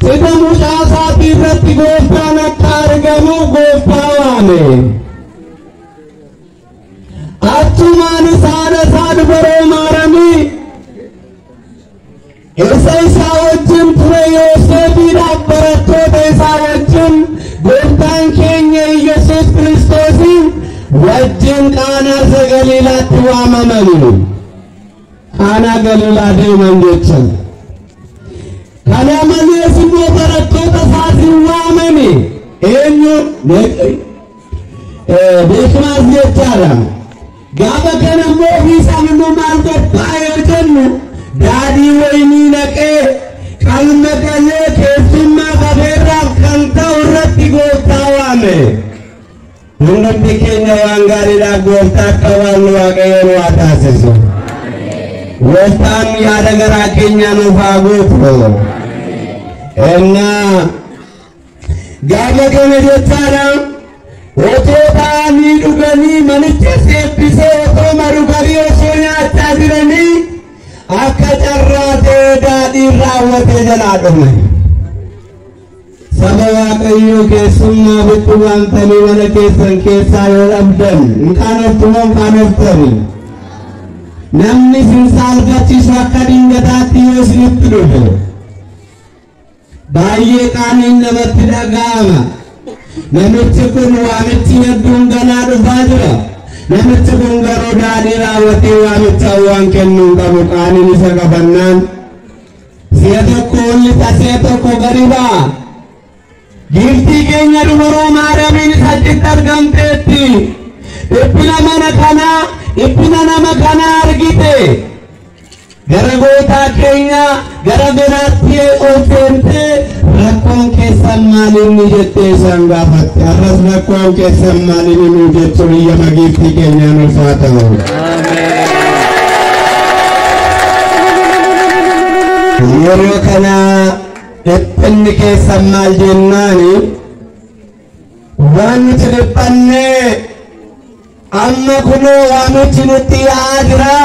Qixa mucaa isaatii irratti gooftaan akka argamuuf gooftaa waame. Achumaan isaan isaa dubaroo maaramii Isa isaa wajjin ture Yoosefiidhaaf barattoota isaa wajjin gooftaan keenya Yesuus Kiristoosiin wajjin qaanaa isa Galiilaatti waamamani. Qaanaa Galiilaa deeman jechan. Kana malees immoo barattoota isaatiin waamame eenyu beekmaas jechaadha. Gaafa kana immoo ofiisaan immoo maal qophaa'ee jennu daadhii wayinii naqee qalma galee keessummaa qabeerraaf kan ta'u irratti gooftaa waame. Hundumti keenya waan gaariidhaaf gooftaa akka waamnu waaqayyo nu haa taasisu. Gooftaan yaada garaa keenyaa nuuf haa guutu. Ennaa gaafa kana jechaadha otoo ta'anii dhuganii manicha seebbisee otoo maruganii osoo nyaachaa jiranii akka carraa ta'ee daadhiin raawwatee jalaa dhume. Saba Waaqayyoo keessummaa bitti waamtanii mana keessan keessaa yoo dhabdan hin qaanoftu moo hin qaanoftani? Namni isin saalfachiisu akka dingataatti yoo isinitti dhufe baay'ee qaaniin namatti dhaga'ama. Namichi kun waamichi hedduun ganaa dhufaa jira. Namichi kun garuu daadhii raawwatee waamicha waan kennuu qabu qaaniin isa qabannaan Si'a tokko ol lixa si'a tokko gadi ba'a. Giiftii keenya dubroo Maariyaamiin saddeetti argamteetti. Dhiphina mana kanaa, dhiphina nama kanaa argite. Gara gootaa keenya gara biraatti ol seentee rakkoon keessan maalinni jettee isaan gaafatte. Arras rakkoon keessan maalinni nuu jechuun iyyama giiftii keenyaa nuuf haa ta'u. Yeroo kana dhiphinni keessan maal jennaani waan nuti dhiphanne amma kunoo waamichi nutti yaa'aa jira.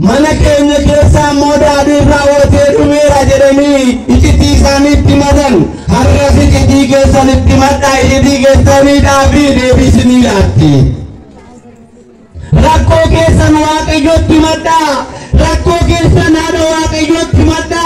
Mana keenya keessa ammoo daadhiin raawwatee dhumeera jedhanii icitii isaanii itti madan har'as icitii keessan itti madhaa icitii keessaniidhaa fi deebisinii laatti. Rakkoo keessan waaqayyotti madhaa rakkoo keessan haadha waaqayyotti madhaa.